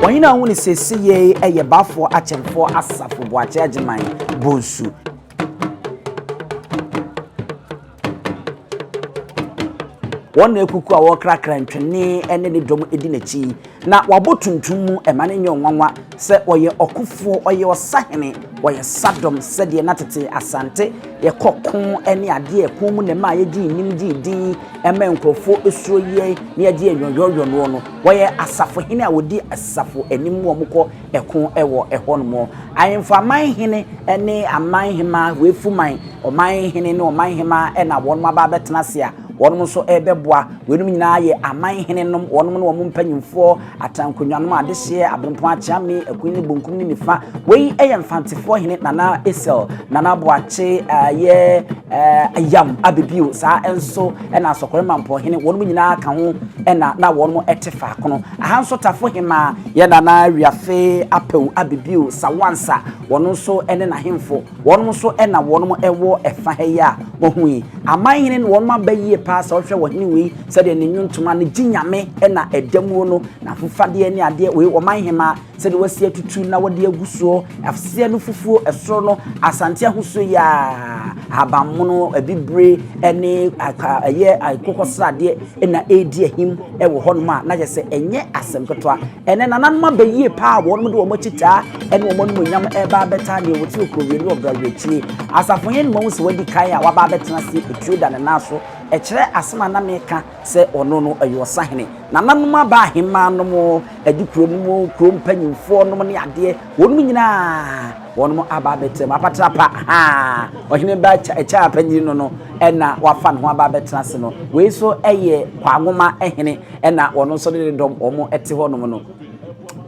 Ɔhene a wone sese yei yɛ Bafoɔ Akyɛmfoɔ Asafo Boakye Agyeman Bonsu. Wɔn na akuku a wɔkrakra ntwene ne ne dɔm di n'akyi, na wɔabɔ tuntum mu ma no nyɛ nwanwa sɛ ɔyɛ ɔkofoɔ, ɔyɛ ɔsahene, ɔyɛ sadɔm sɛdeɛ na tete Asante yɛkɔ ko ne adeɛ a ɛko mu na ɛma yɛgyee nim gyee din ma nkurɔfoɔ suro yɛn na yɛgye yɛn yɔyɔɔyɔnoɔ no. Wɔyɛ asafohene a wɔdi asafo anim wɔkɔ ko wɔ hɔnom. Ahemfo aman hene ne aman hemaa, Wefuman, ɔman hene ne ɔman hemaa na wɔn aba abɛtena ase a wɔn nso rebɛboa. Wɔnom nyinaa yɛ aman hene nom, wɔnom ne wɔn mpanyinfoɔ, atrankonnwa nom, adehyeɛ, abenpɔn, akyeame, akuni ne bonkum ne nifa. Wei yɛ mfantefoɔ hene Nana Esel, Nana Boakye yɛ ayam abebio, saa nso na asɔkɔre mampɔn hene, wɔnom nyinaa ka ho na na wɔnom ɛte faakono. Aha nso tafo hemaa Yɛ Nana Wiafe Apawu Abibio Sawansa, wɔnom nso ne n'ahemfo, wɔnom nso na wɔnom wɔ ɛfa ha yi a wahu yi. Aman hene no wɔnom aba yie paa, sɛ wohwɛ ɔhene wei sɛdeɛ ne nnwontoma no gye Nyame na ɛda muo no, n'ahofadeɛ ne adeɛ wei ɔman hemaa sɛdeɛ wasi atutu na wɔde agu soɔ, aseɛ no fufuo, soro no Asante ahosuo yi aa, ahabanmono, abibire ne ɛyɛ akokɔsradeɛ. na ɛredi ahim wɔ hɔnom a na yɛ sɛ ɛnyɛ asɛm ketewa. Ɛnɛ nananom aba yie paa a wɔnom de wɔn akyitaa ne wɔn animuonyam ɛreba abɛtaa deɛ wɔte Okurowie ne Ɔbrawerɛkyie. Asafo hene no mahu sɛ wadi kan a waba abɛtena ase ɛtuo da ne nan so ɛkyerɛ asɛm a na meka sɛ ɔno no ɛyɛ ɔsahene. Nananom aba ahemmaa nom, adikuro nom, kuro mpanyimfoɔ nom ne adeɛ wɔnom nyinaa. Wɔnom aba abɛtena mu, apatra pa haa, ɔhene ba kyɛ a panyini no no na wafa ne ho aba abɛtena ase no. Wei nso yɛ Kwaanwoma hene na wɔn nso ne ne dɔm wɔn te hɔnom no.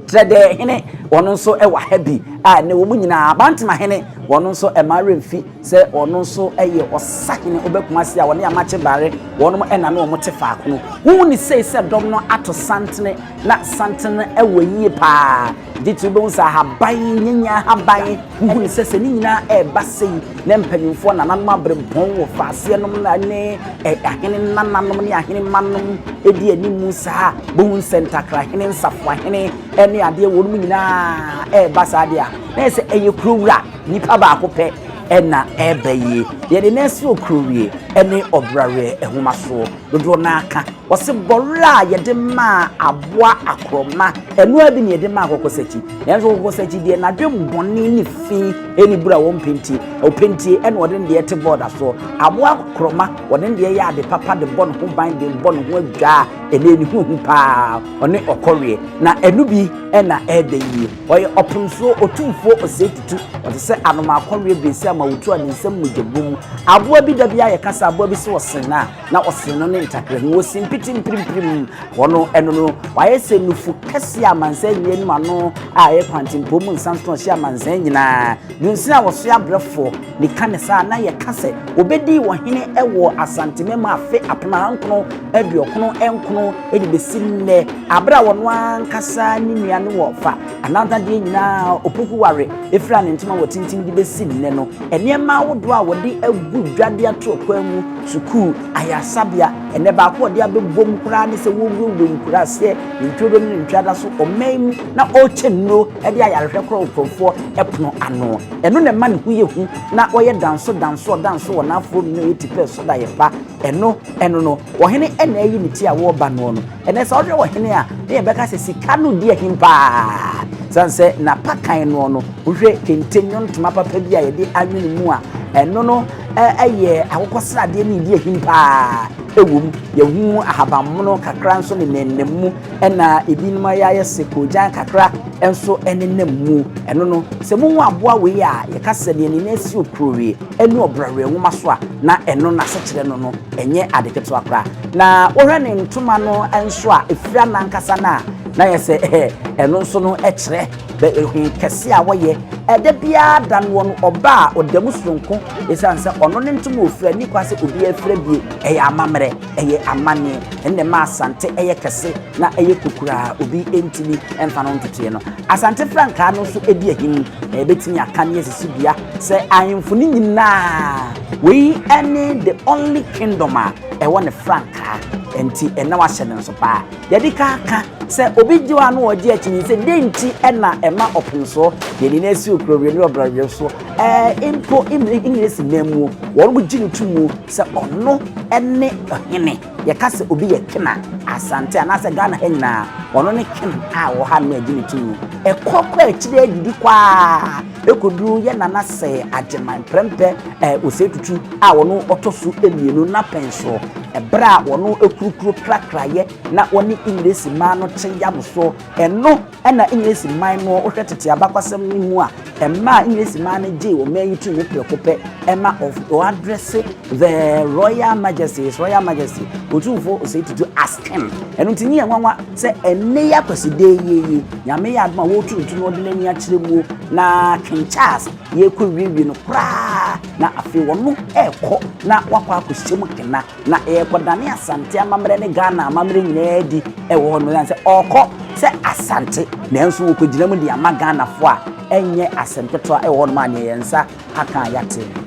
Trɛdɛɛ hene wɔn nso wɔ ha bi a ne wɔn nyinaa Abantema hene wɔn nso ɛma remfi sɛ wɔn nso yɛ ɔsa hene obɛkuma se a wɔne amakye bare wɔnom na ne wɔn te faako no. Wohu ne sei sɛ dɔm no ato santene na santene wɔ yie paa. Gye ti wobɛhu sɛ ahaban nyanya ahaban wohu ne sɛ sɛ ne nyinaa ɛreba sei na mpanimfoɔ nananom aberempɔn wɔ faaseɛ nom ne ahene nananom ne ahene mmanom ɛdi anim saa bɛhu sɛ ntakrahene nsafoahene ne adeɛ wɔn mu nyinaa ɛreba saa deɛ a na yɛ sɛ ɛyɛ kuro wura nnipa baako pɛ ɛna ɛreba yie yɛde na ɛsoro kuro wie ɛne ɔbraweɛ ɛhomasoɔ Dodoɔ no ara ka. Wɔse bɔwerɛ a yɛde maa aboa akorɔma, ɛno ara bi na yɛde maa kɔkɔsakyi. Nanso kɔkɔsakyi deɛ n'adwene bɔne ne fi ne bura wɔ mpentie. Opentie ɛna ɔde ne deɛ te bɔɔda soɔ. Aboa akorɔma, ɔde ne deɛ yɛ ade papa de bɔ ne ho ban de bɔ ne ho adwaa. Ɛnee ne ho hu pa ara, ɔne ɔkɔweɛ. Na ɛno bi na ɛɛda yie. Ɔyɛ ɔpemsoɔ, otumfoɔ, osɛetutu, ɔte sɛ anomaa kɔreɛ beesia ma wotu a ne nsam mogya bɔ mu. Aboa bi da bi a yɛka sɛ aboa bi se ɔsen no a, na ɔsen no ne ntakra mu, osin piti mpirimpirim hɔ no, ɛno no. Wayɛ sɛ nufu kɛseɛ a amansan nni anim, ano a ɛyɛ kwantempɔn mu nsa nso na ɔhyɛ amansan nyinaa. Dunsini a wɔsoɛ abrɛfoɔ. De ka ne saa a, na yɛka sɛ obedii wɔ hene wɔ Asantemem afe apena nkron aduɔkron nkron de besi nnɛ, bere a ɔno ankasa ne nua no wɔ fa anantadeɛ nyinaa a Opoku ware fira ne ntoma wɔ tintim de besi nnɛ no. Nneɛma ahodoɔ a wɔde agu dwa de ato akwan mu, sukuu, ayaresabea, ɛnɛ baako a wɔde abɛbom koraa ne sɛ wɔwurawura nkuraaseɛ, ntworo ne ntweada so, ɔman mu, na wɔrekyɛ nnuro de ayarehwɛ korɔ nkurɔfoɔ pono ano. Ɛno na ɛma ne ho yɛ hu na ɔyɛ danso danso ɔdanso wɔ n'afoa mu na ɔyɛ tipɛ so da yɛn ba. Ɛno ɛno no, ɔhene ɛna ayi ne ti a wɔreba noɔ no. Ɛnɛ sɛ wohwɛ ɔhene a, ne yɛbɛka sɛ sika no di ahim paa. Sane sɛ n'apakan noɔ no, wohwɛ kente nwontoma papa bi a yɛde anwene mu a, ɛno no ɛyɛ akokɔsradeɛ ne ɛdi ahim paa ɛwɔ mu. Yɛhu ahabanmono kakra nso nenam mu. ɛna ebinom ayɛ ayɛ se koogyan kakra nso nenam mu. Ɛno no, sɛ muhu aboa wei a yɛka sɛ nea ne nan si okurowie ne ɔbraweɛ nwoma so a, na ɛno n'asekyerɛ no no, ɛnyɛ ade ketewa koraa. Na wohwɛ ne ntoma no nso a, efira no ankasa no a, na ayɛ sɛ ɛno nso no kyerɛ bɛ hwe kɛse a wɔyɛ. Da biara da no, wɔn ɔba a ɔda mu soronko esiane sɛ ɔno ne ntoma a ofira nni kwan sɛ obiara fira bi. Ɛyɛ amammerɛ. Ɛyɛ amanneɛ. Ɛno na ɛma Asante yɛ kɛse na ɛyɛ kokuraa a obi ntumi mfa no ntotoeɛ no. Asante frankaa no nso di ahi mu, na yɛbɛtumi aka ne asisi dua sɛ ahemfo no nyinaa, wei ne the only kingdom a ɛwɔ ne frankaa, ɛnti na wahyɛ no nso paa. Deɛ ɛde ka ka sɛ obi gye hɔ a na ɔgye akyi ne sɛ dɛn nti na ɛma ɔpomsoɔ deɛ ne nan si ɔkurawie ne ɔbrɛwie so ɛɛ mpo English mmamuo wɔn gye no to mu. Sɛ ɔno ne ɔhene, yɛka sɛ obi yɛ ken a, Asante anaasɛ Ghana ha nyinaa, ɔno ne ken a ɔwɔ ha nnɛ a ɛdi ne tumi. Ɛkɔ kɔ akyire ara didi kɔ ara kɔduru yɛn Nana Sɛɛ Agyeman Prɛmpɛ eh, Osei Tutu a ɔno ɔtɔ so mmienu n'apɛn soɔ. Ɛberɛ a ɔno kurukuru krakrayɛ na ɔne Engiresi mmaa no kye yam soɔ, ɛno Nna Engiresi man no hwɛ tsetse abakɔsɛm no mu a mmaa a Engiresi man no gyee ɔman yi tum prɛko pɛ ma ɔadrɛse The Royal Majesty, His Royal Majesty, Otumfoɔ Osei Tutu as King. Ɛno nti nnyɛ nwanwa sɛ ɛnnɛ yi Akwasida yi yi Nyame yɛ adom a wɔretu nto na wɔde no ani akyerɛ mu na King Charles yɛrekɔwiewie no koraa na afei ɔno rekɔ na wakɔ akɔhyɛ mu kena. Na ɛrekɔdane Asante amammerɛ ne Ghana amammerɛ nyinaa adi wɔ hɔ no ɛsiane sɛ ɔrekɔ sɛ Asante nanso wɔkɔgyina mu de ama Ghanafoɔ a ɛnyɛ asɛm ketewa wɔ hɔ nom a neɛ yɛn nsa aka a yɛate no.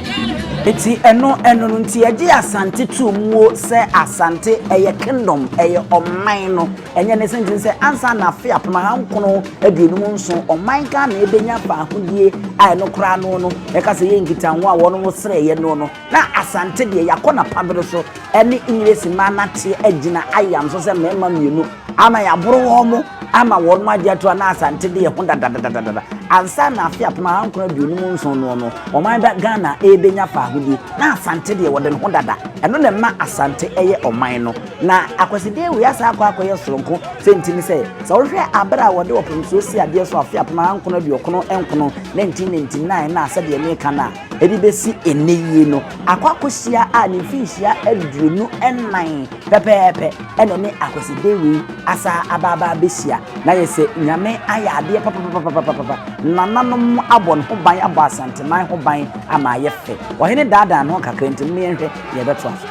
Eti ɛno ɛno no nti yɛgye Asante too muo sɛ Asante ɛyɛ kingdom ɛyɛ ɔman no ɛnyɛ ne sɛ nti sɛ ansa na afe apem aha nkono aduonum nson ɔman Ghana ɛbɛnya faahodie a ɛno koraa no no yɛka sɛ yɛ nkitaho a wɔnom srɛeɛ no no na Asante deɛ yɛakɔ na pabere so ɛne Englesi maa nateɛ agyina ayam so sɛ mɛɛma mmienu ama yɛaboro wɔn mo ama wɔnom agye ato a na Asante de yɛ ho dadadadadada. Ansa na afe apem ahankron aduonum nson noɔ no, ɔman bɛ Ghana rebɛnya faahodie, na Asante deɛ wɔde ne ho dada. Ɛno na ɛma Asante yɛ ɔman no. Na akwasidie wei asan akɔ akɔyɛ soronko. Sɛ nti ne sɛ, sɛ wohwɛ aberɛ a wɔde ɔpɛnsuo sii adeɛ so afe apem ahankron aduokron nkron, 1999, na sɛdeɛ meka no a, Ɛde bɛsi ɛnnɛ yi no, Akwakosia a ne mfinhyia aduonu nnan pɛpɛɛpɛ na ɛne Akwaside wei asan aba aba abɛhyia. Na ayɛ sɛ Nyame ayɛ adeɛ papapapapapapa. Nananom abɔ ne ho ban, abɔ Asanteman ho ban ama ayɛ fɛ. Ɔhene daadaa ne ho kakra nti, momma yɛnhwɛ Yɛbɛtoa so.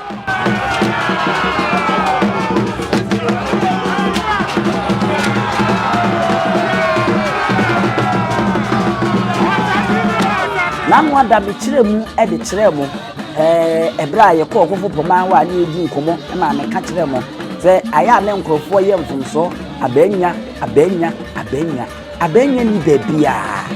Nano ada mekyerɛ mu de kyerɛɛ mo ɛberɛ a yɛkɔɔ kofo pɔmaa hɔ a ne yɛdi nkɔmmɔ ma meka kyerɛɛ mo sɛ ayɛ a ne nkurɔfoɔ yɛ mfomsoɔ abɛnya abɛnya abɛnya abɛnya ni baabiaa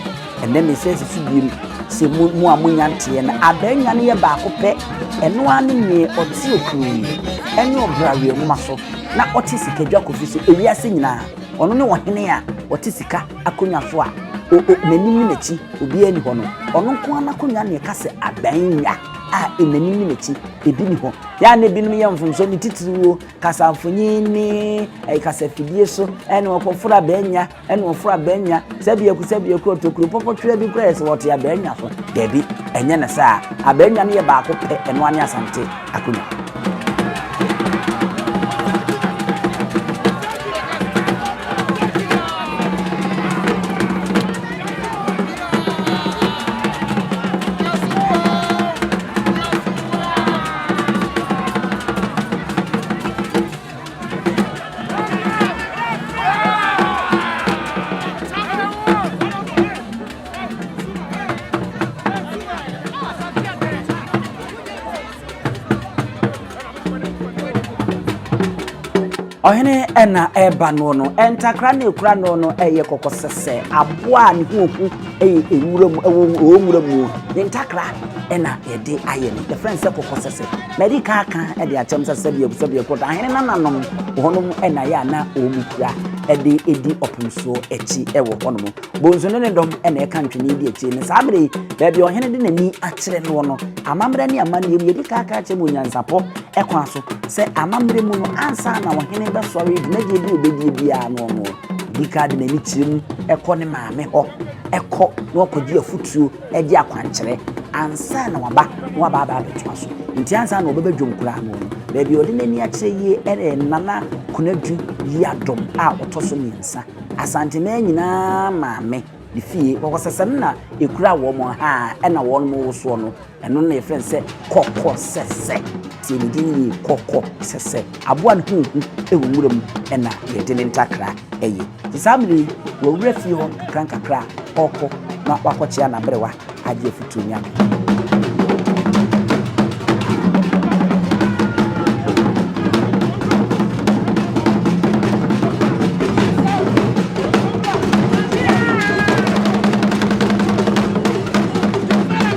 Ɛnnɛ me nsa sisi biem sɛ mo mo a monya nteɛ no abaanya no yɛ baako pɛ, ɛno ara ne neɛ ɔte okuro yi ɛne ɔbra wea nwoma so na ɔte sika dwa kofi so ewiase nyinaa ɔno ne ɔhene a ɔte sika akonnwa so a o o n'anim ne n'akyi obiara ni hɔ no ɔno nko ara n'akonnwa ne ɛka sɛ abaanya a e n'anim ne n'akyi ebi ni hɔ yɛ a na ebinom yɛ mfomso ne titiriw o kasamfonyin ne ɛyɛ kasafidie so ɛne ɔkɔforo abaanya ɛna ɔforo abɛnya sɛ biaku sɛ biaku ɔtokuro pɔpɔtwerɛ bi koraa yɛ sɛ wɔte abɛnya so daabi ɛnyɛ ne saa abɛnya no yɛ baako pɛ ɛno ane asante akonnwa ɔhene ɛna ɛreba no no ntakra na ekura no no ɛyɛ kɔkɔ sɛsɛ aboa a ne ho ohu ɛyɛ ewura mu ɛwɔ nwura mu ne ntakra ɛna yɛde ayɛ no yɛfrɛ no sɛ kɔkɔ sɛsɛ. Madi kan aka de akyerɛ mo sɛ sɛdeɛ sɛdeɛ kɔ ahene nananom wɔ hɔnom na yɛ a na wɔn kura de edi ɔpem soɔ akyi wɔ hɔnom. Bonsu ne ne dɔm na ɛka ntwene di akyire no. Saa bere yi, baabi a ɔhene de n'ani akyerɛ noɔ no, amammerɛ ne amanneɛ mu yɛdi kan aka akyerɛ mo onyansapɔ kwan so sɛ amammerɛ mu no ansa na ɔhene bɛsɔre dwumadie bi obɛdie biara no no. Ɔdi kan de n'ani kyerɛ mu kɔ ne maame hɔ kɔ na ɔkɔgye afutuo de akwankyerɛ ansa na waba na waba aba abɛtoa so. Nti ansa na ɔbɛba dwom koraa no, baabi a ɔde n'ani akyerɛ yie ne Nana Konadu Yiadom a ɔtɔ so mmiɛnsa, Asanteman nyinaa maame ne fie, kɔkɔsɛsɛ no na ɛkura wɔn, haa na wɔn wosoɔ no, ɛno na yɛfrɛ no sɛ kɔkɔsɛsɛ. Sɛ ne din yɛ kɔkɔ sɛ sɛ aboa ne ho hu wɔ nwura mu na yɛde ne ntakra yɛ. Nti saa bere yi wawura fie hɔ nkakrankakra a ɔrekɔ na wakɔkyea n'aberewa agye afotu Nyame.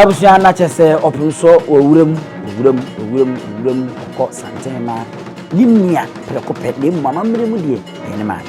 Abusua na kyɛ sɛ ɔpem so wɔ wuram, wuram, wuram, wuram kɔ santen ma ne nua prɛko pɛ, na mmom amammerɛ mu deɛ ɛyɛ ne maame.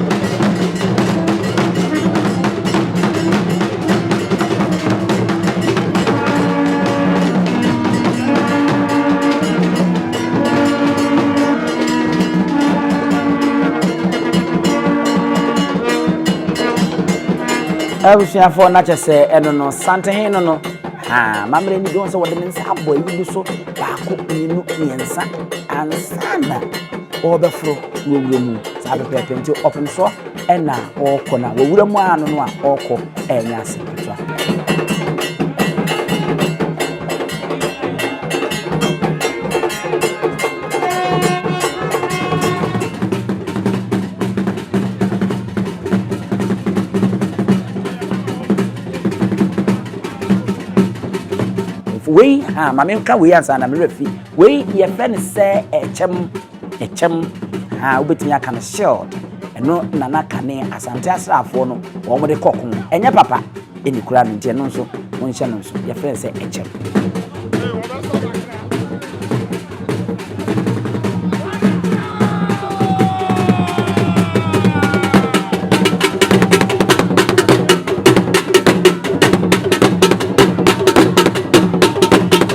abusuafoɔ no akyɛ sɛ ɛno no santehe no no mammerɛ ni dɔn sɛ wɔde ne nsa abɔ ayi bi so baako mmienu mmiɛnsa ansa na wɔbɛforo wurawura mu saa pɛpɛɛpɛ nti ɔfom so ɛna ɔrekɔ na wawura mu ano no a ɔrekɔ ɛnyɛ ase ketewa. wei ha maame nka wei ansa na mmerɛ fi wei yɛfrɛ no sɛ ɛkyɛm Ɛkyɛm, haa wobɛtumi aka no shield, ɛno na na kane Asante asraafoɔ no wɔn de kɔ ko. Ɛnyɛ papa ɛni koraa no nti ɛno nso monhyɛ no nso, yɛfrɛ sɛ ɛkyɛm.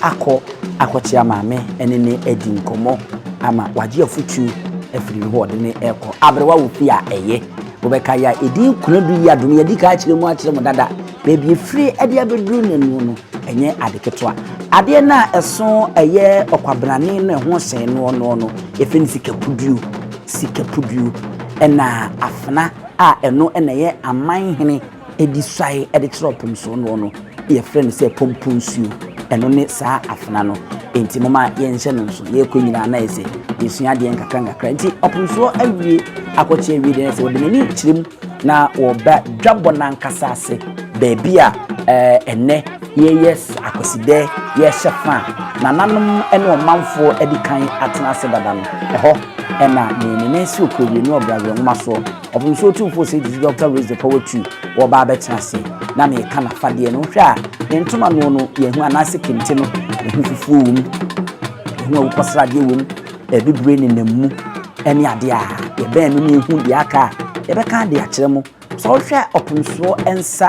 akɔ akɔkyea maame ne no adi nkɔmmɔ ama wagye afotu afiri ne hɔ a ɔde no rekɔ aberewa wɔ fie a ɛyɛ. Wobɛka yɛ a ɛdi nkuna du yi a dom yɛadi ka akyerɛ mu akyerɛ mo dada. Baabi efiri ɛde abɛduru ne noɔ no ɛnyɛ ade ketewa. Adeɛ no a ɛso ɛyɛ ɔkwabenane no ɛho sɛn noɔ noɔ no yɛfrɛ no sikapuduo. Sikapuduo ɛna afena a ɛno ɛna ɛyɛ aman hene. Ɛdi suae ɛde kyerɛ ɔpomsoɔ noɔ no yɛfrɛ no sɛ pomponsuo ɛno ne saa afena no nti moma yɛnhyɛ no nso yɛkɔ nyinaa na yɛsɛ yɛsua adeɛ nkakra nkakra nti ɔpomsoɔ awie akɔkye awie deɛ sɛ wɔde n'ani kyerɛ mu na wɔba dwabɔ no ankasa ase baabi a ɛnɛ yɛyɛ akwasidɛ yɛhyɛ fa a nananom ne ɔmanfoɔ adi kan atena ase dada no ɛhɔ ɛna ne ne ne si okurowie ne ɔbrabra nwoma soɔ Ɔpem nsuo tumfoɔ Said Dzi Doctor Raise the Power Two wɔba abɛtena ase na meka nafadeɛ no wohwɛ a ne ntoma noɔ no yɛhu anaase kente no ɛho fufuo wɔ mu ɛho awukɔsradeɛ wɔ mu ɛbibire ne nam mu ɛne adeɛ a yɛbɛn no ne ɛhu deɛ aka a yɛbɛka de akyerɛ mo sɛ wohwɛ ɔpem soɔ nsa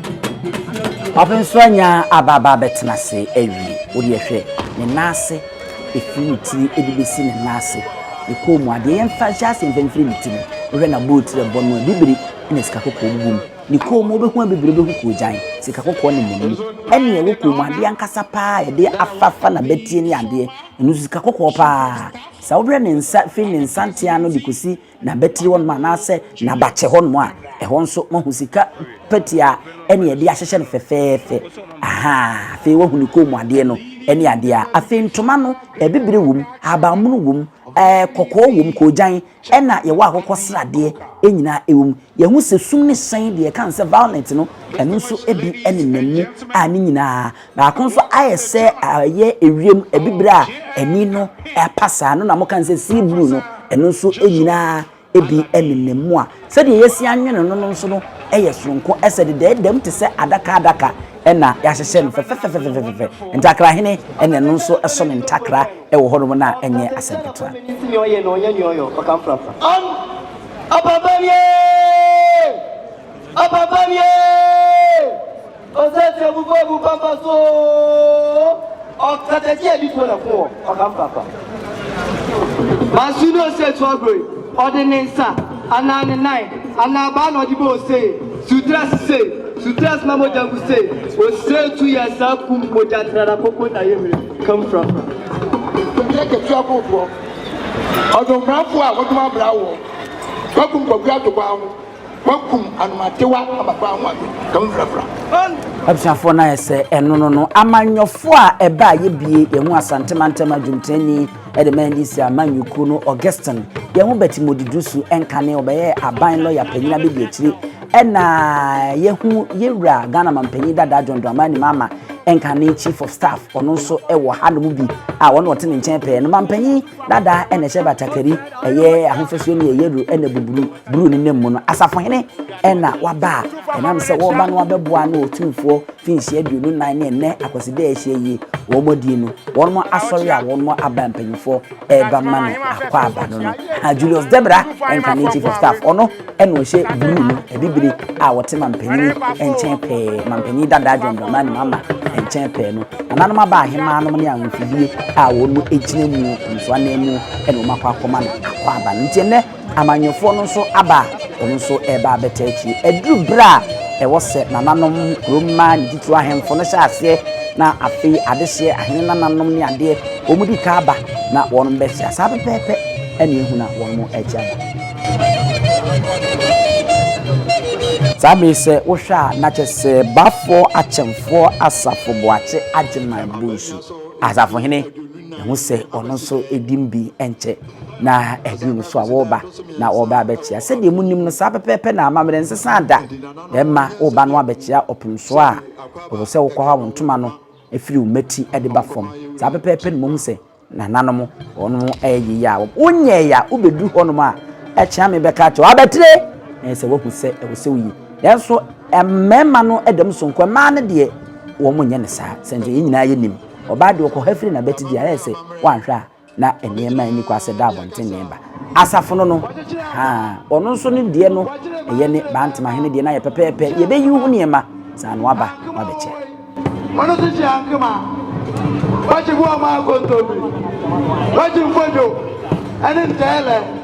Afei nso anya aba aba abɛtena ase awie. Wo deɛ hwɛ, ne nan ase, ɛfiri ne tiri de bɛsi ne nan ase, ne kɔn mu adeɛ, yɛmfa nhyɛ aseɛ mfa mfiri ne ti no, wohwɛ n'abowotirɛ bɔ no a, bibire na sika kɔkɔɔ gugu mu. Ne kɔn mu, wobɛhu a bibire, wobɛhu koogyan, sika kɔkɔɔ na ɛnam mu. Ɛne ɛwɔ kɔn mu adeɛ ankasa pa ara a yɛde afafa n'abati ne adeɛ, ɛno nso sika kɔkɔɔ pa ara. Sɛ wohwɛ ne nsa, firi ne nsa ntea ano de kɔsi, N'abatiri hɔ nom anaasɛ n'abakyɛ hɔ nom a, ɛhɔ nso moahu sika pɛtia ɛne ɛde ahyehyɛ no fɛfɛɛfɛ. Ahaa, afei woahu ne kɔn mu adeɛ no ɛne adeɛ a. Afei ntoma no, abibire wɔ mu, ahabanmono wɔ mu, ɛɛ kɔkɔɔ wɔ mu, koogyan, ɛna yɛwɔ akokɔsradeɛ, ɛnyinaa ɛwɔ mu. Yɛahu sɛ sum ne hyɛn, deɛ yɛka no sɛ violet no, ɛno nso ɛbi ɛnenam mu a ne nyinaa Baako nso ayɛ sɛ ɛyɛ ewiem abibire a ani no apa saa no na moka no sɛ sea blue no ɛno nso nyinaa ebi nenam mu a sɛdeɛ yɛasi anwene no no nso no yɛ soronko ɛsɛ dedaadam te sɛ adaka adaka ɛna yɛahyehyɛ no fɛfɛfɛfɛfɛfɛ ntakra hene ɛna ɛno nso ɛso ne ntakra ɛwɔ hɔnom no a ɛnyɛ asɛm ketewa. Apapawie! Apapawie! Ɔsɛ sɛ mo bɔ mu papa so oo, ɔkata ti ɛbi fo na fo wɔ ɔka mo papa. Manso ne ose etu agorɔ yi, ɔde ne nsa anaa ne nan anaa abaa na ɔde bɔ ose yi, sutra sise, sutra sima mogya gu se, ose etu yɛ saa kum mogya trada koko na yɛ mire kam frafra. Sutra ketewa akofoɔ, ɔdom mbrafo a wɔdom abra awoɔ, wakum kwaku ato kwan ho. Wɔakum anomadewa ama paa ho ade ka ho mfrafra. Abusuafoɔ no ayɛ sɛ ɛno no no amanyɔfoɔ a ɛbɛ a yɛbie yɛn ho asante mantam adwumtani ɛde ma ndc amanyɔkuo no Augustine yɛn ho bɛte mɔdidu su ɛnkane ɔbɛyɛ aban lɔya panyin abɛdi akyire ɛna yɛhu yɛwura Ghana mampanyin dada John Dramani Mahama ɛnkane chief of staff ɔno nso ɛwɔ ha no mu bi a wɔn ɔte ne nkyɛn pɛɛ no mampanyin dada ɛna ɛhyɛ batakari ɛyɛ ahofasuo ne ɛyɛ ru ɛna buburu Duru ne nna mu no, asafohene na waba a ɛnam sɛ wɔreba no abɛboa ano wɔ Tumfoɔ Mfinhyia Aduonu Nnan ne ɛnnɛ Akwasida a yɛahyia yi wɔn adie no, wɔn asɔre a wɔn aba mpanyinfoɔ reba ma no akwaaba no no. Ha Julius Debra nka ne Chief of Staff, ɔno na ɔhyɛ bruu no, abibire a wɔte mampanyini nkyɛn pɛɛ, mampanyini dadaa John Dramani Mahama nkyɛn pɛɛ no. Nananom aba ahemaa nom ne ahemfibie a wɔn gyina mu nso ananmu na wɔn akɔ akɔma no akwaaba no. Nti ɛnnɛ. Amanyɔfoɔ no nso aba a, wɔn nso reba abɛtaa akyire. Aduru berɛ a ɛwɔ sɛ nananom, kurom mmaa ne titiriw ahemfo no hyɛ aseɛ, na afei adehyeɛ, ahene nananom ne adeɛ, wɔdi ka aba na wɔnom bɛkyea. Saa pɛpɛɛpɛ na ɛhu na wɔnom ɛrekye aba. Saa berɛ yi sɛ wohwɛ a, na kyerɛ sɛ Baffour Akyemfoɔ Asafo Boakye Agyeman Bonsu Asafohene, Ɛho sɛ ɔno nso din bi nkyɛ na ɛhene no so a wɔreba na ɔreba abɛkyea. Sɛdeɛ monim no, saa pɛpɛɛpɛ na amammerɛ nsesa da. Bɛrima woreba no abɛkyea ɔpono so a, ɛwɔ sɛ wokɔ hɔ a wo ntoma no firi wo mmati de ba fam. Saa pɛpɛɛpɛ na mohu sɛ nananom wɔnom ɛyɛ yei a wonyɛɛ a wobɛduru hɔnom a ɛkyea me bɛka akyɛ wabɛtire ɛyɛ sɛ woahu sɛ ɛwɔ sɛ woyi. Nanso mmarima no da mu sonko, mmaa no deɛ wɔn nyɛ ne saa sɛnea yɛn nyinaa yɛnim. Ɔbaa de, ɔkɔ ha firi n'abatidi a, ayɛ sɛ woanhwɛ a na nneɛma nni kwa sɛ da abɔnten ne ba. Asafo no no, haa, ɔno nso ne deɛ no yɛ ne Baa Ntemahene deɛ no ayɛ pɛpɛɛpɛ, yɛbɛyi wo ho nneɛma saa na woaba woabɛkyɛ. Ɔno nso hyɛ ankema, wakye boɔ maa kontomire, wakye mfodwo ne ntɛɛlɛ.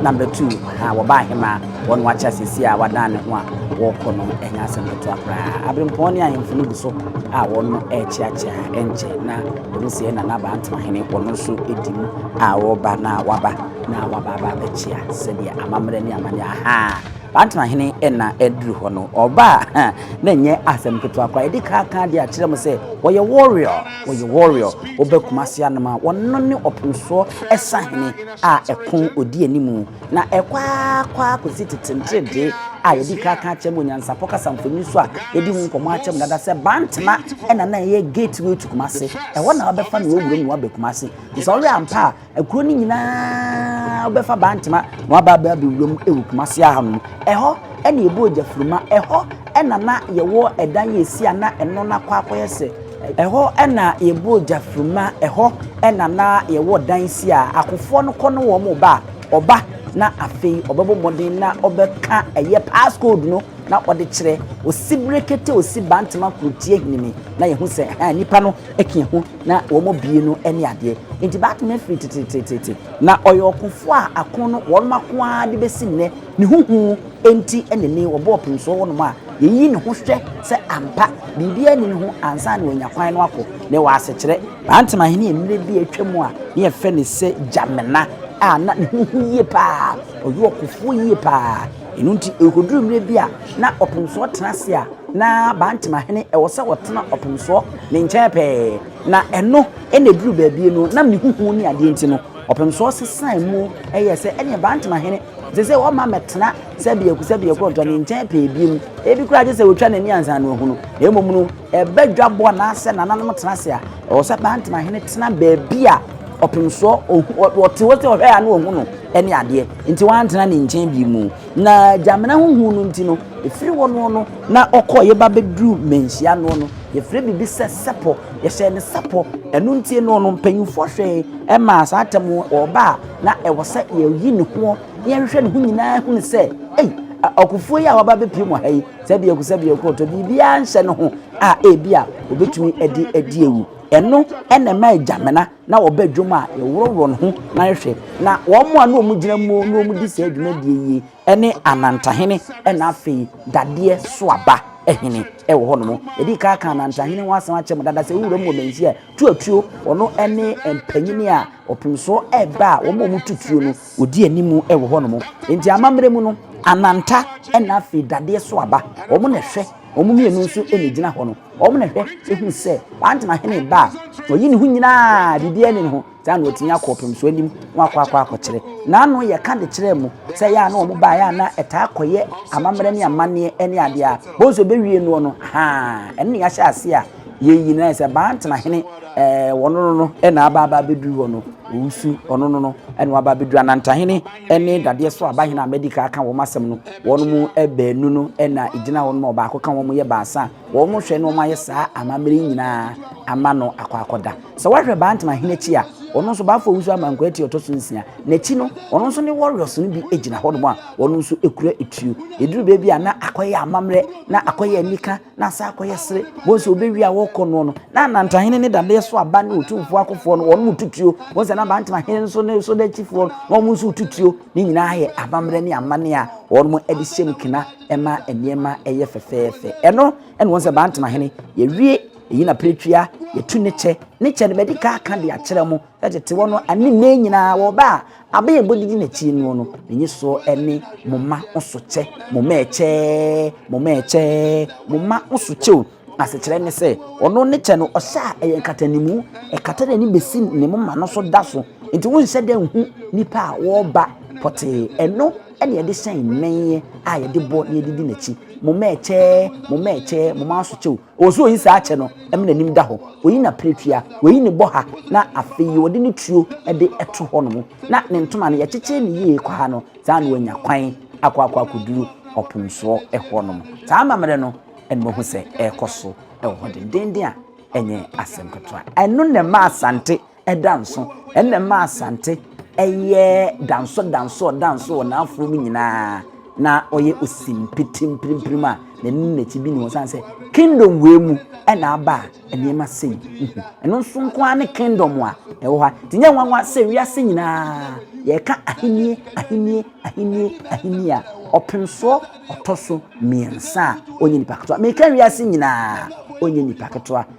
Number two, aha, wɔbaa he ma wɔn akyɛ asɛsi a wadan ne ho a wɔkɔ no ɛnyɛ asɛm ketewa koraa. Abirempɔn ne ahemfo no gu so a wɔn ɛrekyeakyea ɛnkyɛ na wɔn sie na n'abaa ntomahene wɔn nso di mu a wɔba na waba na waba aba abɛkyea sɛdeɛ amammerɛ ne amane ahaa. Bantomahene ɛna aduru hɔ no ɔba a na ɛnyɛ asɛm ketewa koraa ɛde kaakaa de akyerɛ mo sɛ wɔyɛ warrior wɔyɛ warrior wɔbɛ kumase anoma wɔn ne ɔpemsoɔ ɛsa hene a ɛko odi anim na ɛkɔ ara kɔ ara kosi tete nteredee a yɛde kan aka akyerɛ mu onyansafo kasa mfonini so a yɛadi ho nkɔmmɔ akyerɛ mu dada sɛ Bantama ɛna na ɛyɛ gateway to Kumasi. Ɛhɔ na wɔbɛfa no wɔ wuram na wɔaba Kumasi. Nti sɛ ɔwɛ ampa a, akuro no nyinaa wobɛfa Bantama na wɔaba abɛ abɛ wuram wɔ Kumasi aha nom. Ɛhɔ ɛna ɛbu ogyafuruma. Ɛhɔ ɛna na yɛwɔ ɛdan a ɛsi a na ɛno no akɔ akɔyɛ sɛ Ɛhɔ na yɛbɔɔ gya firi mu, ɛhɔ na na yɛwɔ dan si a akofoɔ no kɔ ne wɔn ba a ɔba na afei ɔbɛbɔ mmɔden na ɔbɛka ɛyɛ pass code no na ɔde kyerɛ osi brekete osi bantama kurotie hinimi na yɛhu sɛ ha nipa no ɛka ɛho na wɔn bie no ɛne adeɛ nti baako na firi tetetetete na ɔyɛ ɔkofoɔ a ako no wɔn ako ara de bɛsi nnɛ ne huhu nti ɛne ne wɔbɔɔ pemsoɔ wɔnom a Yeyi ne ho hwɛ sɛ ampa biribiara nni ne ho ansa na wanya kwan no akɔ, na ɛwɔ asekyerɛ. Bantam Ahenni a mmerɛ bi a atwam a na yɛfrɛ no sɛ Jamena a na ne ho hu yie pa ara, ɔyɛ ɔkofoɔ yie pa ara. Ɛno nti ɛrekɔduru mmerɛ bi a na ɔpemsoɔ tena ase a, na Bantam Ahene ɛwɔ sɛ ɔtena ɔpemsoɔ ne nkyɛn pɛɛ. Na ɛno na ɛduruu baabi no, ɛnam ne ho hu ne adeɛ nti no, ɔpemsoɔ sesaa mu yɛɛ sɛ ɛnneɛ Bantam Ahene ɛsɛ sɛ ɔma mmɛtena sɛ biaku sɛ biaku ɔntɔ ne nkyɛn pɛɛ bi mu ebi koraa gye sɛ wɔtwa n'ani ansa na ɔhunu na mmom no ɛbɛ dwabɔ anaasɛ nananom tena ase a ɛwɔ sɛ bantama hene tena baabi a ɔpemsoɔ ɔte hɔ sɛ ɔhwɛ a na ɔhu no ne adeɛ nti wantena ne nkyɛn bi mu na gyamena ho hu no nti no ɛfiri hɔ no no na ɔkɔ yɛba bɛduru manhyia no no yɛfrɛ biribi sɛ sɛpɔ yɛhyɛ ne sɛpɔ ɛno nti no no mpanyimfoɔ hwɛe ɛmaa saa atɛm ɔba a na ɛwɔ sɛ yɛyi ne ho Nea ɛhwehwɛ ne ho nyinaa hunu sɛ, ei, ɔkofoɔ yi a waba bɛpiem wɔ ha yi, sɛ biako sɛ biako ɔtɔ biribiara nhyɛ ne ho a ebi a obetumi de adi awu. Ɛno na ɛma agyamena na wɔba adwam a yɛworɔworɔ ne ho na yɛhwɛ. Na wɔn a na wɔgyina mu na wɔdi saa dwumadie yi ne anantahene na afei dadeɛ so aba hene wɔ hɔnom. Yɛde ka aka anantahene ho asɛm akyɛ mu dada sɛ wura mu wɔ manhyia tuatuo ɔno ne mpanyini a ɔpemsoɔ ɛreba a wɔn a wɔtu tuo no Odi anim wɔ hɔnom. Enti amammerɛ mu no, Ananta na afei Dadeɛ so aba. Wɔn na ɛhwɛ. Wɔn mmienu nso na egyina hɔ no. Wɔn na ɛhwɛ hu sɛ Kwantena hene ba a, ɔyi ne ho nyinaa, biribiara nni ne ho. Saa na ɔtumi akɔ ɔpem so anim na wakɔ akɔ akɔkyerɛ. N'ano yɛ ka de kyerɛ mu sɛ yɛ a na wɔn baeɛ a na ɛtaa kɔyɛ amammerɛ ne amanneɛ ne adeɛ a, bohu sɛ ɔbɛwie noɔ no, haa, ɛno na yɛahyɛ aseɛ a, Yei nyinaa sɛ bantena hene ɛɛ wɔn no no ɛna aba aba abɛduru hɔ no owusu ɔno no no ɛna waba abɛduru anantahene ɛne dadeɛ so abahene a mɛdika aka wɔn asɛm no wɔn mu ɛbaanu no ɛna egyina hɔ no ma ɔbaako ka wɔn yɛ baasa wɔn hwɛ na wɔn ayɛ saa amammerɛ nyinaa ama no akɔ akɔda sɛ wɔahwɛ bantena hene akyi a ɔno nso baafo owusu amanko ati ɔtɔ so nsia n'akyi no ɔno nso ne warriors no bi egyina hɔ nom a wɔn nso ekura etuo eduru beebi a na akɔyɛ amammerɛ na akɔyɛ anika na asan akɔyɛ sere wɔn sɛ wɔbɛwie a wɔrekɔ noɔ no na anantahene ne dadeɛ so aba ne ɔtumfoɔ akofoɔ no wɔn mu tutuo wɔn sɛ na abantamahene nso ne so dakyifoɔ no wɔn nso tutuo ne nyinaa yɛ abammerɛ ne amane a wɔn mo de hyɛm kena ɛma nneɛma ɛyɛ fɛfɛɛfɛ ɛno ɛna wɔn sɛ abantamahene yɛwie ɛyi na peretwia yɛtu ne kyɛ ne kyɛ no bɛdi ka aka de akyerɛ mo Tete hɔ no ne nnɛ nyinaa wɔ ba a aben a ebodidi n'akyi no no, ne nyiso ne mo mma ho sokyɛ, mo mma ɛkyɛ, mo mma ɛkyɛ, mo mma ho sokyɛ o. Asekyerɛ ne sɛ, ɔno ne kyɛ no, ɔhyɛ a ɛyɛ nkatanimu, ɛkata n'ani besi ne moma no so da so. Enti wonhyɛ da nhu nnipa a wɔreba pɔtee. Ɛno na yɛde hyɛn mmɛn a yɛde bɔ na yɛde di n'akyi. Mo mma ɛkyɛ, mo mma ɛkyɛ, mo mma ho sokyɛ o. Ɔsɛ ɔyi saa kyɛ no ma n'anim da hɔ, ɔyi n'apiretua, ɔyi ne bɔha, na afei ɔde ne tuo de to hɔ nom, na ne ntoma no yɛkyekyere no yie kɔ ha no, saa na wanya kwan akɔ akɔ akɔduru ɔpomsoɔ hɔ nom. Saa amammerɛ no na mahu sɛ ɛrekɔ so wɔ hɔ dendeenden a ɛnyɛ asɛm ketewa. Ɛno na ɛma Asante da nso, ɛnna ɛmaa Asante yɛ danso danso ɔdanso wɔ n'afoɔ mu nyinaa. Na ɔyɛ osimpete mpirimpirim a n'ani ne n'akyi bi ne ho sane sɛ kingdom wei mu ɛna aba a nneɛma sei nhu. Ɛno nso nko ara ne kingdom a ɛwɔ ha. Nti nyɛ nwanwa sɛ wiase nyinaa yɛka ahennie ahennie ahennie ahennie a ɔpem soɔ ɔtɔ so mmiɛnsa a ɔnyɛ nipa ketewa. Meka wiase nyinaa ɔnyɛ nipa ketewa.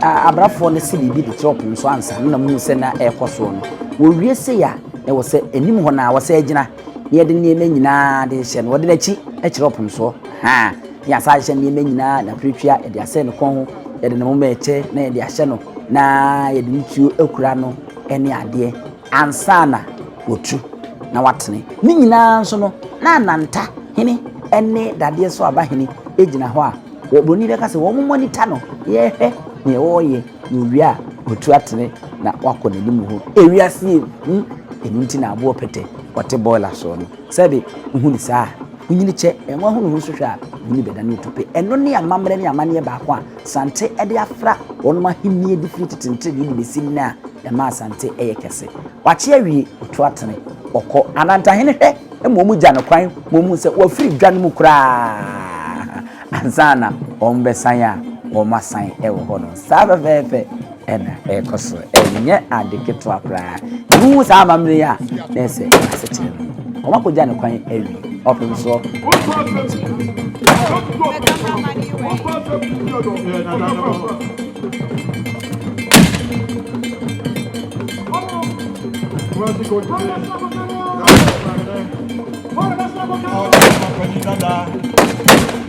Abrafoɔ no se biribi de kyerɛ ɔpon so ansa na muhu sɛ na ɛrekɔ soɔ no. Wɔwie sei a, na ɛwɔ sɛ anim hɔ no ara wɔsan gyina na yɛde nneɛma nyinaa de hyɛ no, wɔde no akyi kyerɛ ɔpon soɔ. Haa, na yɛasan ahyehyɛ nneɛma nyinaa, n'apiretwea, yɛde asɛn ne kɔn ho, yɛde ne moma ɛkyɛ na yɛde ahyɛ no na yɛde ne tuo akura no ne adeɛ. Ansa na watu na watene. Ne nyinaa nso no, na Ananta hene ne Dadeɛ so aba hene gyina hɔ a, wɔbroni bɛka sɛ wɔn mo ani ta no, yɛhwɛ nea ɔreyɛ na owie a, watu atene na wakɔ n'anim hɔ. Ewiase yɛ hu, ɛno nti na aboɔ pɛtɛ ɔte boiler soɔ no, sɛbe wohu no saa a, wonyini kyɛ, na wɔahunu ho nso hwɛ a, w'ani bɛdane otope. Ɛno ne amammerɛ ne amanneɛ baako a Asante de afra wɔnom ahenni adi firi tete nteredee de bɛsi nnɛ a ɛma Asante yɛ kɛse. Wakye awie, ɔtu atene, ɔkɔ. Anantahene hwɛ ma wɔn gya no kwan ma wɔhunu sɛ wafiri dwa no mu koraa ansa na wɔbɛsan a wɔasan wɔ hɔ no. Saa fɛfɛɛfɛ. na ɛrekɔ so. Ɛnyɛ ade ketewa koraa. Wohu saa amammerɛ yi a, na ɛyɛ sɛ asekyerɛ no mu. Wɔakɔgya no kwan awie. Ɔpem so. Thank you.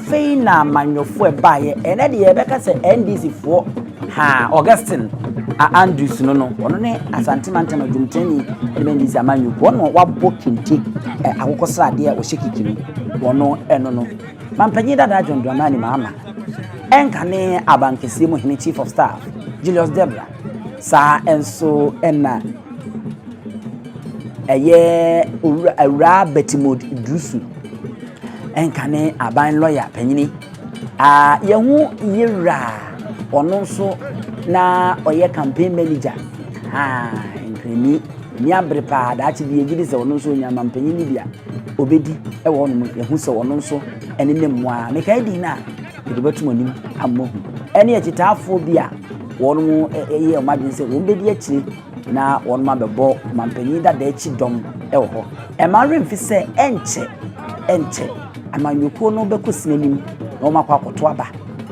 Afei na amanyɔfoɔ baeɛ, ɛnɛ deɛ yɛbɛka sɛ NDC foɔ haa Augustine a Andrews no no, ɔno ne Asante Mantam adwumtani ɛde bɛ NDC amanyɔ kuo, ɔno wabɔ kente ɛ, akokɔ sradeɛ a ɔhyɛ kikiri, ɔno ɛno no. Mampanyin dada John Dramani Mahama, ɛnka ne abankɛseɛ mu hene Chief of Staff Julius Debra, saa nso ɛna ɛyɛ Awuraa Betimode Dusu, Ɛnka ne aban lɔya panyin a yɛho yera ɔno nso na ɔyɛ campaign manager ha nkrani ni abere paa daakye bi yɛgye di sɛ ɔno nso onya mampanyin ni bi a obedi ɛwɔ hɔ nom yɛho sɛ ɔno nso ɛne ne mmoa mekae din no a yɛde bɛtom anim ammɔ hu ɛne akyitaafoɔ bi a wɔn yɛ wɔn adwene sɛ wɔn bɛdi akyire na wɔnom abɛbɔ manpanin dada akyi dɔm wɔ hɔ. Ɛma awerɛ mfi sɛ ɛnkyɛ ɛnkyɛ amanyɔkuo no bɛkɔ sini anim na wɔn akɔ akɔto aba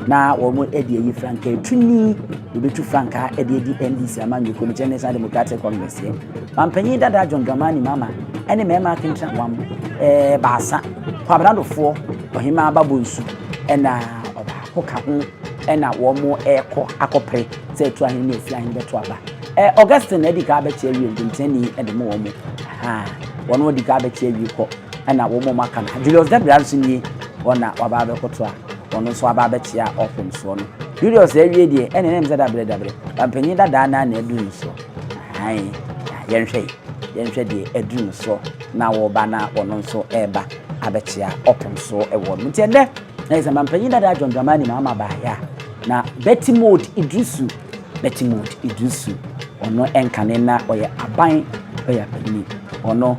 na wɔn de ayi frankaa etu ni wɔbɛtu frankaa de adi NDC amanyɔkuo no kyerɛ National Democratic Congress yɛ. Manpanin dada John Dramani Mahama ɛne mmarima akentena wɔn ɛɛ baasa kwabradofoɔ ɔhemaa babɔ nsu ɛna ɔbaako ka ho ɛna wɔn ɛkɔ akɔpere. sɛ ɛto ahe ne ɛfiri ahe no bɛto aba. Ɛ, Augustine na ɛdi kan abɛkye awie nkontirani de mo wɔn mo. Ahaa, wɔn wɔn di kan abɛkye awie kɔ, ɛna wɔn wɔn aka no ha. Julius Debra nso nie, wɔn na waba abɛkoto a, wɔn nso aba abɛkye a ɔpem soɔ no. Julius awie deɛ, ɛna ɛnam sɛ dabrɛ dabrɛ, bampanyin dadaa naa na aduru no soɔ. Ahan, yɛnhwɛ yi, yɛnhwɛ deɛ aduru no soɔ na wɔba na wɔn nso ɛreba abɛkye a ɔpem soɔ ɛwɔ no. Nti ɛnɛ, ɛyɛ sɛ bampanyin dadaa John Dramani na ama baayɛ a, Na Betty Maud Iddrisu, Betty Maud Iddrisu, ɔno nka ne na ɔyɛ aban ɔyɛ abani, ɔno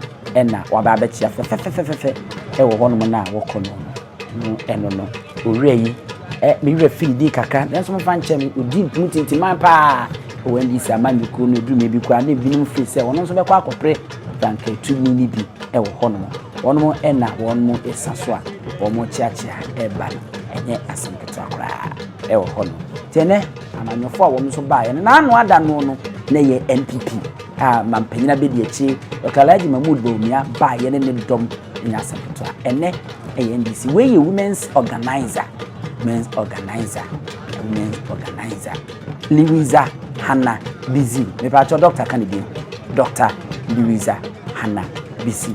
na waba abɛkyea fɛfɛfɛfɛfɛ ɛwɔ hɔnom no a wɔkɔ no no, no ɛno no, owura yi, ɛ, me werɛ firi din kakra, nanso momfa nkyɛ me, ɔdi mu tintiman paa ɛwɔ NDC amanyɔkuo no, ɛduru baabi koraa na ebinom firi sɛ wɔn nso bɛkɔ akɔpere frankatumi no bi ɛwɔ hɔnom, wɔnom na wɔnom ɛsa so a wɔn kyeakyea ɛba no, ɛnyɛ asɛm kasa koraa ɛwɔ hɔ nom nti ɛnɛ amanyɔfoɔ a wɔn nso baeɛ no n'ano ada no no na ɛyɛ npp a mampanyin abɛdi akyi dr alhaji mahmood bawumia baeɛ ne ne dɔm nyɛ asɛm ketewa ɛnɛ ɛyɛ ndc wei yɛ women's organizer women's organizer women's organizer liwiza hana bizi mepatɔ dr ka ne bio dr liwiza hana bizi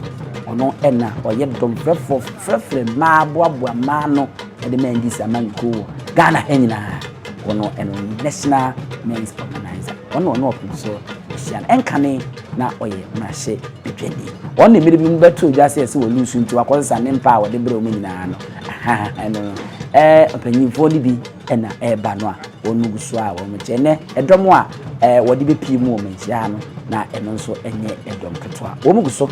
ɔno ɛna ɔyɛ dɔmfrɛfoɔ frɛfrɛ mmaa boaboa mmaa no Yɛde Mendy si amanyɔ kuo wɔ Ghana ha nyinaa. Ɔno ɛno National Men's Organizer. Ɔno ɔno ɔpem so ɛhyia no. Ɛnkane na ɔyɛ mmarahyɛ badwani. Ɔno na mmerɛ bi mu bɛtoo dwa sɛ ɛsɛ wɔ lusu nti wakɔsesa ne mpa a wɔde brɛ wɔn nyinaa no. Ɛno no. Ɛɛ mpanyinfoɔ no bi ɛna ɛɛba no a wɔn gu so a wɔn kyɛ. Ɛnɛ ɛdɔm a ɛɛ wɔde bɛpie mu wɔn nhyia ha no na ɛno nso ɛnyɛ ɛdɔm ketewa. Wɔn gu so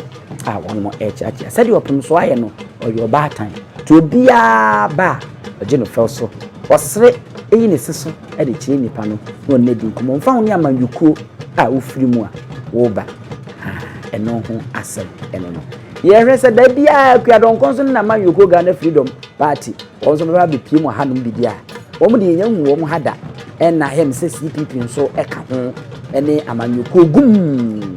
a wɔn ɛɛkyeakyea. Sɛdeɛ ɔpem so ayɛ no ɔyɛ ɔbaatan. Nti obiara ba a, ɔgye no fɛw so. Ɔsere, eyi ne se so de kyerɛ nnipa no na ɔne no adi nkɔmmɔ. Mfa ho ne amanyɔkuo a wofiri mu a woreba, ɛno ho asɛm ne no. Yɛhwɛ sɛ da biara Kua Dɔnkɔ nso ne n'amanyɔkuo Ghana Freedom Party, wɔn nso bɛba abɛpue mu ahanom biribi a wɔn deɛ yɛnhu wɔn ha da. Ɛnna him sɛ CPP nso ka ho ne amanyɔkuo gumm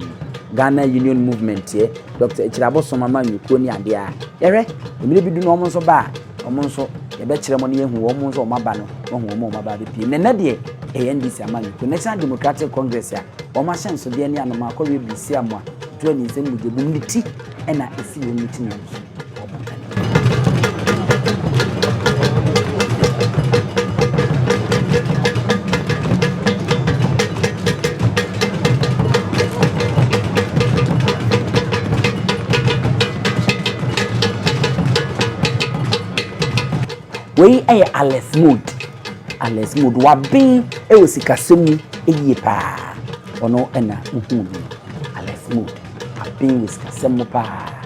Ghana Union Movementɛ. Dɔkta Akyirabo soma ma nnwokuo ne adeɛ a yɛhwɛ. Mmerɛ bi du no wɔn nso ba a, wɔn nso yɛbɛkyerɛ mo na yɛahu wɔn nso wɔn aba no, wɔahu wɔn a wɔn aba abɛpue. Na ɛnɛ deɛ ɛyɛ NDC amanyɔkuo, National Democratic Congress a wɔn ahyɛnsodeɛ ne anomaa kɔweɛ birisiamoa, tuo aninsɛm mogyabum ne ti na ɛsi wɔn ne ti no nso. wei yɛ alert mode alert mode waben wɔ sikasɛm mu yie paa ɔno na wohuu no alert mode waben wɔ sikasɛm mu paa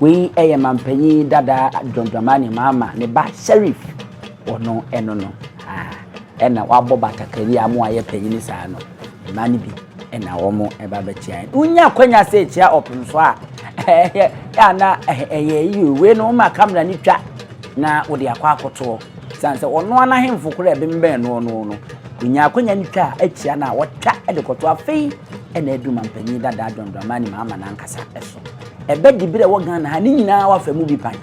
Wei yɛ mampanyin dada John Dramani Mahama ne ba Sheriff ɔno ɛno no ɛna wabɔ batakari a wɔn a yɛ panyin saa no mmaa no bi ɛna wɔn ɛba bɛkyia yɛn wonya akwanya sɛ ɛkyia ɔpem so a ɛyɛ ana ɛyɛ yi o wei no wɔn ma kamera no twa na wɔde akɔ akɔtoɔ san sɛ ɔno anahemfo koro ɛbɛnbɛn no ɔno no wonya akwanya no twa ɛkyia na wɔtwa ɛde kɔtoɔ afei ɛna ɛdu mampanyin dada John Dramani Mahama n'ankasa ɛso. Ɛbɛ Dibere a ɛwɔ Ghana ha no nyinaa wɔafa mu bi pan.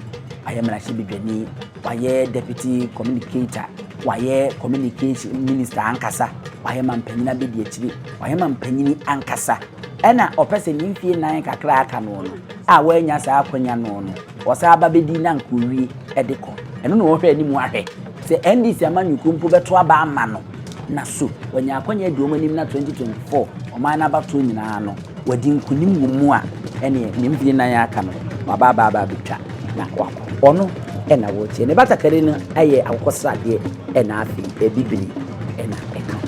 Wayɛ mmarahyɛbadwani, wayɛ deputy communicator, wayɛ communication minister ankasa, wayɛ mampanyin abadiakyiri, wayɛ mampanyin ankasa. Ɛna ɔpɛ sɛ ne mfie nan kakra a aka noɔ no a wannya saa akwanya noɔ no, Wɔsan ba bɛdi na anka owie de kɔ. Ɛno na wɔhwɛ anim ahwɛ sɛ NDC amanyɔkuo mpo bɛto aba ama no na so wanya akwannya adi wɔn anim na 2024 ɔman no abatoɔ nyinaa no wadi nkunim wɔ mu a ɛneɛ ne mfeɛ nnan a aka no waba aba aba abɛtwa na wakɔ. Ɔno na wɔrekyia. Ne batakari no yɛ akokɔsradeɛ na afei bibire na ɛka ho.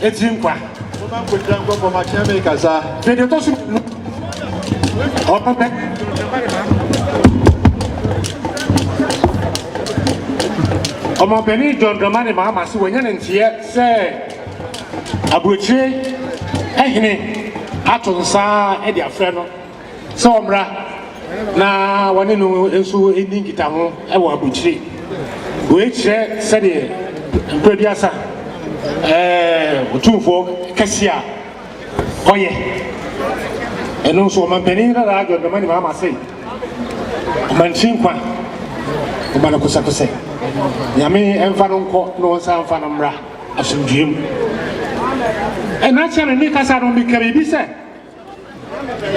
Agyi nkwa. Momma nkogyina nkɔ fam akyɛ me kasa. Hwɛ deɛ ɛtɔ so mmienu. Ɔno bɛ. Ɔmampanin John Dramani Mahama se wanya ne nteɛ sɛ aburokyire hene ato nsa de afrɛ no. sɛ ɔmmra na wɔne no nso nni nkitaho wɔ aburukyire. Wei kyerɛ sɛdeɛ Mprɛduasa Otumfoɔ kɛseɛ a ɔyɛ. Ɛno nso ɔmampanin dadaa John Dramani Mahama se, Ɔmantwi nkwa mma no kosɛkosɛ. Nyame mfa no nkɔ na ɔnsan mfa no mmra asomdwoeɛ mu. Ɛnna kyɛre me kasa no meka biribi sɛ.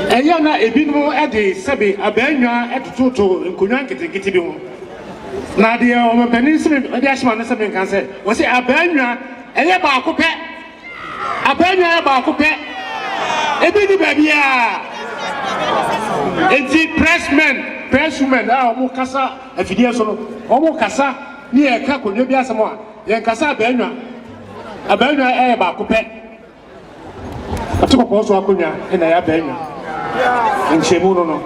Ɛyɛ a na ebinom de sɛbe abaannwa tototo nkonnwa nketenkete bi ho. Na deɛ ɔmanpanin Smith de ahyɛ m'ano sɛ menka sɛ, ɔse, Abaannwa, ɛyɛ baako pɛ. Abaannwa yɛ baako pɛ. Ebi nni baabiara. Enti press men, press women a wɔkasa afidie so no, wɔkasa ne yɛka akonnwa bi asɛm a, yɛnkasa abaannwa. Abaannwa yɛ baako pɛ. Ɔtempɔn so akonnwa na ɛyɛ abaanwa. Nhyiamu no no,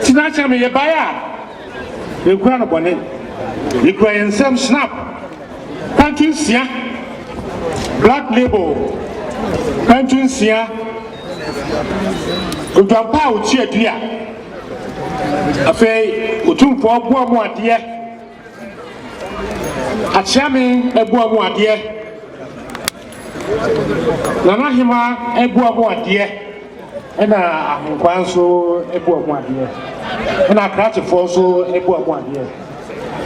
tena akyerɛ me yɛbaeɛ a yɛnkura no bɔne. Yɛkura yɛn nsam Schnapp kwantu nsia, Black Label kwantu nsia, odwampa a ɔkyi adua. Afei Otumfoɔ boa mu adeɛ. Akyea me abua mu adeɛ. Nana Hema abua mu adeɛ. Ɛna Ahonkwaa nso abua mu adeɛ. Ɛna Akrakyefoɔ nso abua mu adeɛ.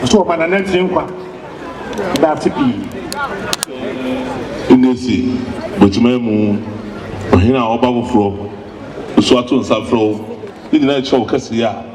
Nso wɔma Nana Akyire nkwa. Ɛda ase pii. Ɛna si Bokyima mu ɔhene a ɔba foforɔ nso ato nsa frɛ wo. Ne nyinaa kyerɛ wo kɛseyɛ a.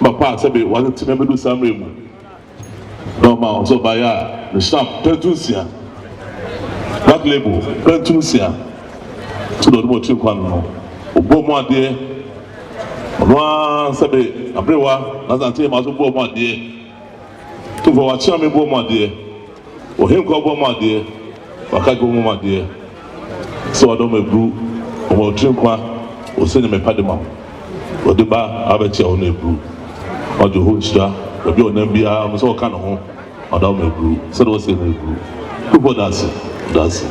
Mapa a sɛbe wɔatete me abedu saa mmerɛ yi mu, na wɔma wɔn sɛ ɔbaeɛ a ne hyɛnam pɛntu nsia, black label, pɛntu nsia, so deɛ ɔde ma ɔkyi nkwa no no, ɔbɔɔ mu adeɛ, ɔno ara sɛbe aberewa, nanso ankyɛ yɛ maa so bɔɔ mu adeɛ, tumfoɔ wɔakyea me bɔɔ mu adeɛ. Ohenkwa bɔ mo adeɛ, wakagye mo adeɛ, sɛ ɔdɔ mo aburu, ɔma wo tiri nkwa, ose ne mepa de ma wo, ɔde ba abɛkyɛ wo ne aburu, ɔgye wo nhyira, baabi a ɔnam biara ɔpɛ sɛ ɔka ne ho, ɔda wo ma aburu, sɛdeɛ ɔse ne aburu, Kufuor Daase, Daase.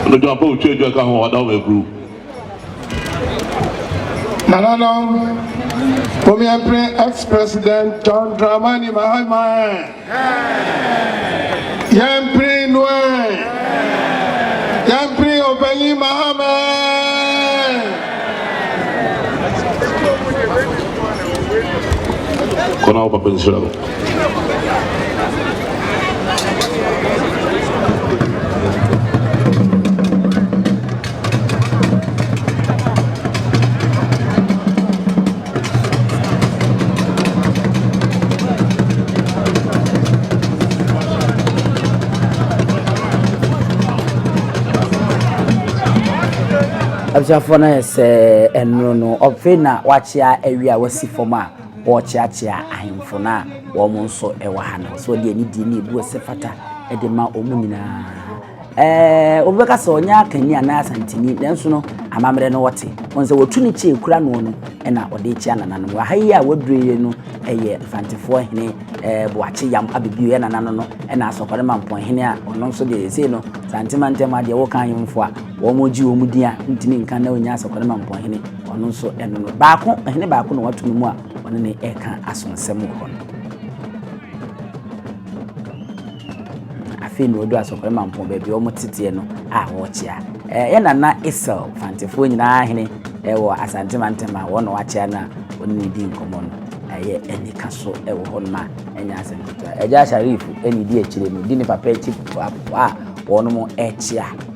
Medwo ampa otwa adwa ka ho, ɔda wo ma aburu. Nananom, mom yɛmpere ex-President John Dramani Mahama ɛ! Yɛmpere no ɛ! Yɛmpere Obanyin Mahama ɛ! Kɔ na wo papa nhyira wo. abusuafoɔ no ayɛ sɛ ɛno no ɔfe na wakyea awie a wasi fam a wɔrekyeakyea ahemfo no a wɔn nso wɔ ha no so deɛ ne di ne ebu ɛsɛ fata de ma wɔn nyinaa. Obi bɛka sɛ ɔnyɛ akanni anaa Asanteni, nanso no, amammerɛ no ɔte. Ɔn sɛ wɔtu ne kyi kura noɔ no na ɔde rekyia nananom. Wɔ ha yi a waduru yi no yɛ Mfantefoɔ hene Boakye Yam abɛbioeɛ nana no no na Asɔkɔre Mampɔn hene a ɔno nso deɛ ɛsei no Sante mantam a deɛ wo kan yomfoɔ a wɔn gye wɔn din a ntumi nka na ɔnya Asɔkɔre Mampɔn hene ɔno nso ɛno no baako hene baako na watu no mu a ɔne ne ɛka asonsɛm wɔ hɔ no. Afei na ɔduu asɔkɔre mampɔn baabi a wɔte teɛ no a wɔrekyea. Ɛɛ yɛ nana Esau fantefoɔ nyinaa hene ɛwɔ Asante mantam a wɔn na wɔakyea no a wɔne no di nkɔmmɔ no ɛyɛ anika so ɛwɔ hɔ nom a ɛnyɛ asɛm ketewa. Agya Sharif ɛna ɛdi akyire no di ne papa akyi a wɔn ɛkyea.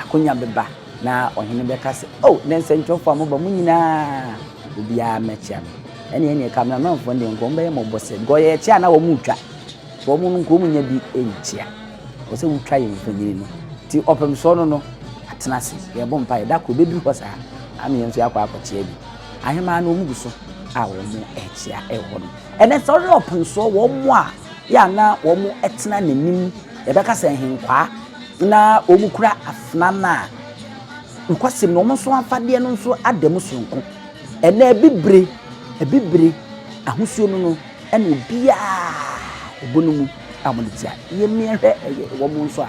Akonya bɛba na ɔhene bɛka sɛ, O nnɛ nsɛnkyerɛwfoɔ a moba mo nyina ara, obiara mmɛkyea me. Ɛnneɛ ɛnneɛ Kameramanfoɔ no deɛ nka wɔbɛyɛ mmɔbɔ sɛ, because yɛ ɛkyɛ a na wɔn retwa, nti wɔn no nka wɔn nya bi nkyea. Ɛwɔ sɛ wotwa yɛn mfonini no. Nti ɔpem soɔ no no, atena ase, yɛrebɔ mpaeɛ, da koro ɛbɛduru hɔ saa a na yɛn nso yɛakɔ akɔkyea bi. Ahemaa no wɔn gu so a wɔn rekyea ɛwɔ hɔ no. Ɛnɛ sɛ ɔhwɛ ɔpem soɔ wɔn a Yɛ a na wɔtena n'anim, yɛbɛka sɛ nhenkwaa, na wɔkura afena no a, nokwasɛm no, wɔn nso afadeɛ no nso ada mu soronko. Ɛnɛ abibire, abibire ahosuo no no, ɛna obiara ɛbɔ no mu a wɔde tia. Yɛmmie hwɛ wɔn nso a.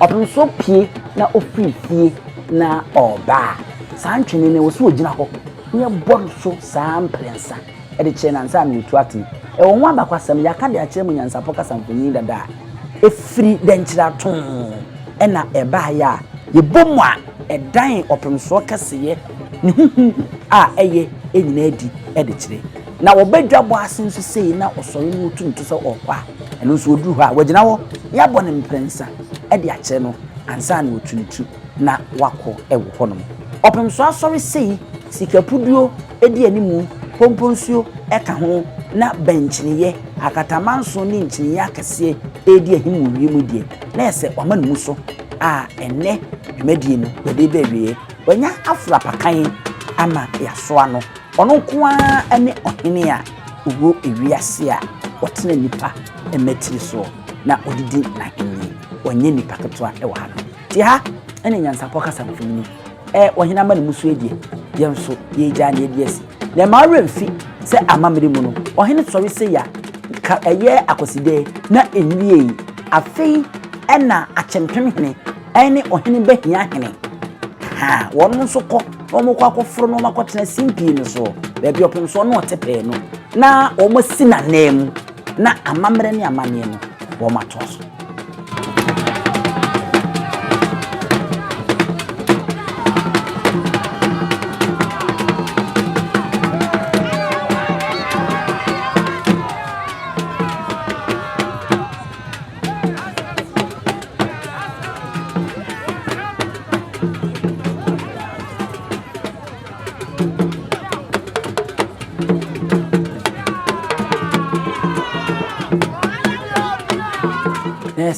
Ɔpem so pue na ɔfiri fie na ɔreba a, saa ntwene no, ɛwɔ sɛ ɔgyina hɔ na yɛbɔ no so saa mprɛnsa de kyerɛ no ansa na ɔtu atene. Ɛwɔ ho abakwasɛm, yɛaka de akyerɛ mo nyansapɔ kasa mfonini dada a ɛfiri dɛnkyira too na ɛbaeɛ a yɛbɔ mu a ɛdan ɔpemsoɔ kɛseyɛ ne huhu a ɛyɛ nyinaa adi de kyerɛ. Na wɔba dwabɔ ase nso sei na ɔsɔre na ɔtu ne to sɛ ɔrekɔ a, ɛno nso ɔduru hɔ a, wagyina hɔ na yɛabɔ no mprɛnsa de akyerɛ no ansa na watu ne ti na wakɔ wɔ hɔnom. Ɔpem so asɔre sei, sikapuduo di animu, komponsuo ka ho na bɛnkyiniiɛ, akatamanso ne nkyiniiɛ akɛseɛ redi ahim wɔ wiem yi deɛ, na ɛyɛ sɛ wɔama no mu so a ɛnnɛ dwumadie no wɔde reba awieɛ. Wɔanya aforo apakan ama yɛasoa no. Ɔno nko ara ne Ɔhene a ɔwɔ ewiase a ɔtena nnipa mmatiri soɔ na ɔde di n'ahennie. Ɔnyɛ nipa ketewa wɔ ha nom. Nti ha ne nyansapɔ kasa no firi mu. Ɛɛ Ɔhene ama ne mu so adie, yɛn nso yɛregyaa ne adi asi. Na ɛmma wo werɛ mfi sɛ amammerɛ mu no, Ɔhene sɔre sei a, nka ɛyɛ Akwasidɛɛ na ɛnwiei. Afei na Akyempemhene ne Ɔhene Bahiahene, ahaa, wɔnom nso kɔ. na wɔkɔ akɔforo no akɔtena simpie no soɔ, baabi ɔpem soɔ na ɔte pɛɛ no, na wɔasi n'anan mu, na amammerɛ ne amanneɛ no, wɔatoa so.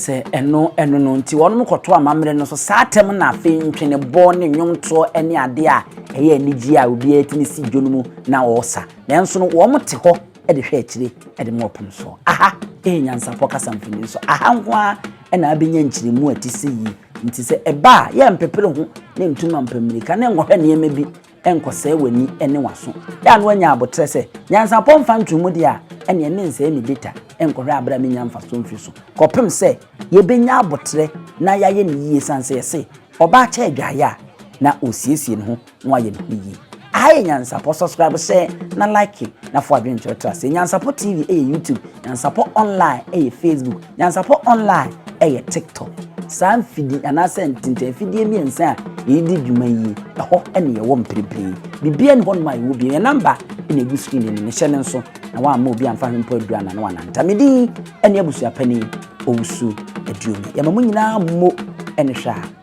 sɛ ɛno ɛno no nti wɔn kɔto amammerɛ no so saa tɛm na afei ntwenebɔ ne nnwomtoɔ ne adeɛ a ɛyɛ anigye a obiara tumi si dwa no mu na ɔresa nanso no wɔn te hɔ de hwɛ akyire de ma ɔpono soɔ. Aha yɛ nyansapɔ kasa mfoni so. Aha nko ara na abɛnya nkyerɛmu a ɛte sɛ yie. Nti sɛ ɛba a, yɛ mpepere ho ne ntu mampa mmirika ne nkɔhwɛ nneɛma bi nkɔsɛe w'ani ne w'aso. Yɛ a na woanya aboterɛ sɛ, nyansapɔ mfa ntomu deɛ a, ɛneɛ mensɛe me data nkɔhwɛ aberɛ a mennya mfasoɔ mfiri so. Kɔpem sɛ yɛbɛnya aboterɛ na yɛayɛ no yie, sane sɛ yɛse, ɔbaa kyɛ adwaeɛ a, na ɔresiesie ne ho. Mo ayɛ ne ho yie. Aha yɛ Nyansapɔ subscribe sɛ na like na fo adwene kyerɛ tra sɛ Nyansapɔ TV ɛyɛ YouTube, Nyansapɔ online ɛyɛ Facebook, Nyansapɔ online ɛyɛ TikTok. Saa mfidi anaasɛ ntentɛnfidie mmiɛnsa a yɛdi dwuma yi ɛhɔ ɛne yɛwɔ mprepire. Bibia ni hɔ nom a yɛwɔ bio. Yɛn namba ɛna egu screen anim hyɛ ne nso na wamma obi amfa hwe mpo adura na na wananta. Me din ɛne abusuapani Owusu Aduomi. Yɛma mo nyinaa mo ɛne hwɛ a.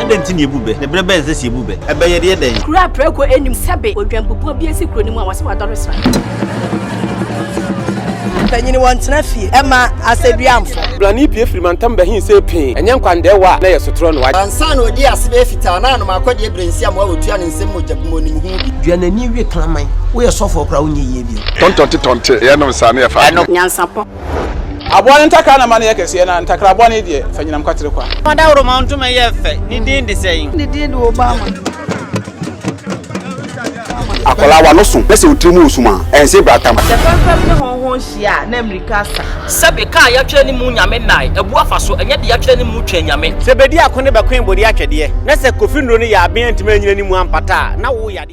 Adɛn nti na yɛbu bɛ? Ne berɛ bɛn sɛ sɛ yɛbu bɛ? Ɛbɛyɛ deɛ dɛn? Kuro a prɛko nnim sɛbe odwanbubuo bi asi kuro no mu a wɔse wadɔre sra. Mpanyini wɔntena fie mma asɛduamfo. Brane pue firi mantam bɛhe sei pee, ɛnyɛ nkwandɛɛwa a na ɛyɛ sotorɔ no. Ansa na ɔdii ase bɛyɛ fitaa no, a na m'akɔdeɛ berɛ nsi amoa ɔtua no nsam mogya bi ma ɔnim ho bi. Dua n'ani we kraman. Woyɛ sɔfoɔ koraa a wonyɛ yie bio. Tɔntɔnte tɔnte, yɛnom saa na yɛfa adeɛ. Nyansapɔ. Aboa no ntakra na ma no yɛ kɛseɛ, na ntakra bɔne deɛ, fa nyinam kwatere kwa. Fa dawuroma ntoma yɛ fɛ, ne din de sɛn? Ne din de Obama. Akwadaa w'ano so na sɛ wo tiri mu resum a, ɛnse brata ma. Sɛ fɛmfɛm ne hɔnhɔn hyia a, na mmirika asa. Sɛbe kaa a yɛatwerɛ ne mu Nyame nnae, abu afa so, ɛnyɛ de yɛatwerɛ ne mu Twɛn Nyame. Sɛ bedi ako ne bɛkoe bode atwɛdeɛ, na sɛ kofi nnuro no yɛ aben antumi annyina ne mu ampata a, na wo yadeɛ.